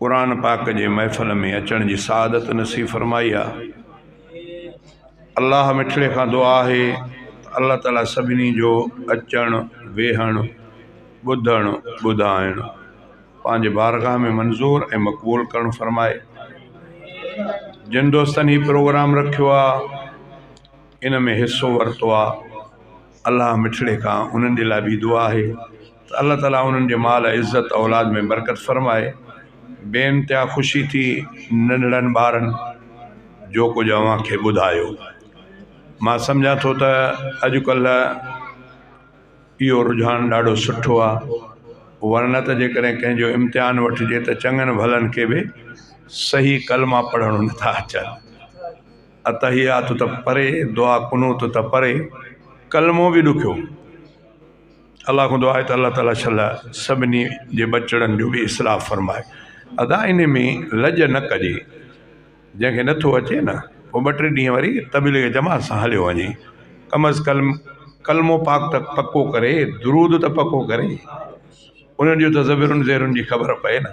قرآن پاڪ جي محفل ۾ اچڻ جي سعادت نصيب فرمائي آ الله مٺڙي کان دعا آهي ته الله تعالي سڀني جو اچڻ ويهڻ ٻڌڻ ٻڌائڻ پنهنجي بارگاهه ۾ منظور ۽ مقبول ڪرڻ فرمائي جن دوستن هي پروگرام رکيو آ ان ۾ حصو ورتو آ الله مٺڙي کان انهن جي لاء به دعا آهي ته الله تعاليٰ انهن جي مال عزت اولاد ۾ برڪت فرمائي بي انتها خوشي ٿي ننڍڙن ٻارن جو ڪجهه اوهان کي ٻڌايو مان سمجهان ٿو ته اڄڪلهه اهو رجحان ڏاڍو سٺو آهي ورنه ته جيڪڏهن ڪنهن جو امتحان وٺجي ته چڱن ڀلن کي به صحيح ڪلما پڙهڻ نٿا اچن اتحيات ته پري دعا قنوت ته پري ڪلمو به ڏکيو الله کان دعا آهي ته الله تعالٰي شلا سڀني جي ٻچڙن جو به اصلاح فرمائي ادا ان ۾ لڄ نه ڪجي جنهنکي نٿو اچي نه هو ٻه ٽي ڏينهن وري تبليغ جماعت سان هليو وڃي ڪم از ڪلم ڪلمو پاڪ ته پڪو ڪري درود ته پڪو ڪري انهن جون ته زبرن زيرن جي خبر پئي نه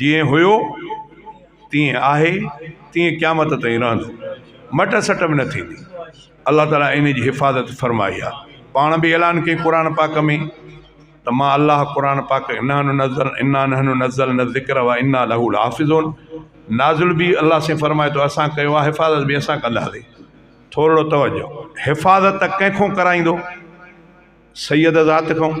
جيئن هيو تيئن آهي تيئن قيامت تائين رهندو مٽ سٽ به نه ٿيندي الله تعالٰي ان جي حفاظت فرمائي آهي پاڻ بي اعلان ڪيائين قرآن پاڪ ۾ ته مان الله قرآن پاڪ انا نزل انا نحن نزل نه ذڪر او انا له الحافظون نازل بي الله سائين فرمائي ٿو اسان ڪيو آهي حفاظت بي اسان ڪنداسي ٿورڙو توجه حفاظت ڪنهن کون ڪرائيندو سيد ذات کون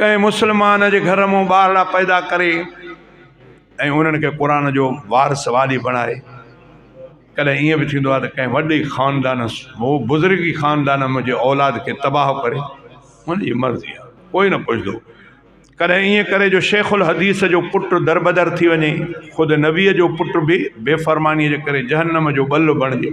ڪنهن مسلمان جي گهر مون ٻارڙا پيدا ڪري ۽ انهن کي قرآن جو وارث والي بڻائي ڪڏهن ائين به ٿيندو آهي ته ڪنهن وڏي خاندان هو بزرگي خاندان منهنجي اولاد کي تباهه ڪري ان جي مرضي آهي ڪوئي نه پڇندو ڪڏهن ائين ڪري جو شيخ الحديث جو پٽ دربدر ٿي وڃي خود نبيء جو پٽ به بي فرمانيء جي ڪري جهنم جو ٻلو بڻجي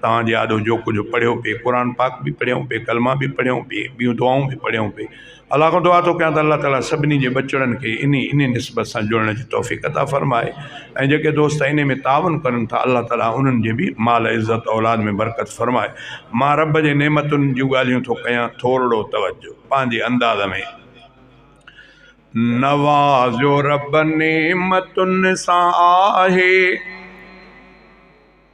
توهان جي آڏو جو ڪجهه پڙهيو پئي قرآن پاڪ بي پڙهيائون پئي ڪلما بي پڙهيائون پئي ٻيون دعائون بي پڙهيائون پئي الله کان دعا ٿو ڪيان ته الله تعالٰي سڀني جي ٻچڙن کي اني اني نسبت سان جڙڻ جي توفيق عطا فرمائي ۽ جيڪي دوست اني ۾ تعاون ڪرن ٿا الله تعالٰي انهن جي بي مال عزت اولاد ۾ برڪت فرمائي مان رب جي نعمتن جون ڳالهيون ٿو ڪيان ٿورڙو توجه پنهنجي انداز ۾ نوازيو رب نعمتن سان آهي.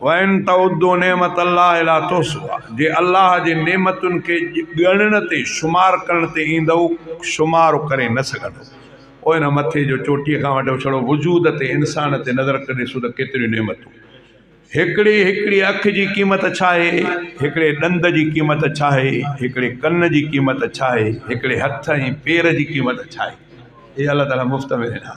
وان تعدو نعمت الله لا تحصوها جي الله جي نعمتن کي ڳڻڻ تي شمار ڪرڻ تي ايندؤ شمار ڪري نه سگهندؤ او هن مٿي جو چوٽيء کان وٺي ڇڙو وجود تي انسان تي نظر ڪري ڏسو ته ڪيتريون نعمتون هڪڙي هڪڙي اک جي قيمت ڇا آهي هڪڙي ڏند جي قيمت ڇا آهي هڪڙي ڪن جي قيمت ڇا آهي هڪڙي هٿ ۽ پير جي قيمت ڇا آهي اي الله تعاليٰ مفت ۾ ڏنا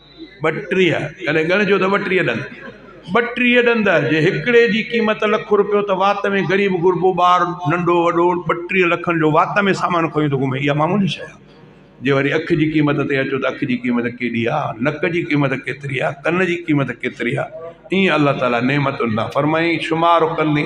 ٻٽيهه، ڪڏهن ڳڻجو ته ٻٽيهه ڏند، ٻٽيهه ڏند جي هڪڙي جي قيمت لک روپيو ته وات ۾ غريب غربو ٻار ننڍو وڏو ٻٽيهه لکن جو وات ۾ سامان کنيو ٿو گهمي اها معمولي شيء آهي. جي وري اک جي قيمت تي اچو ته اک جي قيمت ڪيڏي آهي، نڪ جي قيمت ڪيتري آهي، ڪن جي قيمت ڪيتري آهي، ائين الله تعاليٰ نعمتن تان فرمائي شمار ڪندي.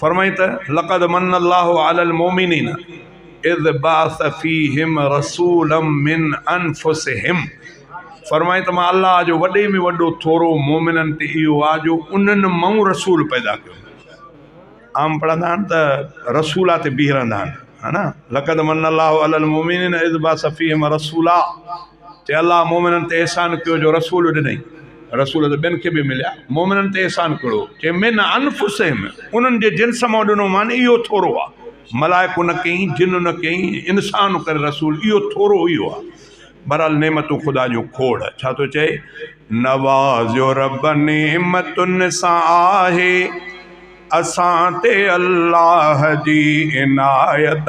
فرمائي ته، لقد من الله علي المومنين اذ بعث فيهم رسولا من انفسهم فرمائي ته مان الله جو وڏي ۾ وڏو ٿورو مومنن تي اهو آهي جو انهن مئون رسول پيدا ڪيو عام پڙهندا آهن ته رسولا تي بيهي رهندا آهن ها نه لقد من الله علي المومنين اذ بعث فيهم رسولا تي الله مومنن تي احسان ڪيو جو رسول ڏنئي. رسول ته ٻين کي به مليا. مومنن تي احسان ڪهڙو چي من انفسهم انهن جي جنس مان ڏنو مان اهو ٿورو آ. ملائڪون نه ڪيئي، جن نه ڪيئي، انسان ڪري رسول اهو ٿورو اهو آ. بهرحال نعمتون خدا جون کوڙ. ڇا ٿو چئي؟ نوازيو رب نعمتن سان آهي اسان تي الله جي عنايت.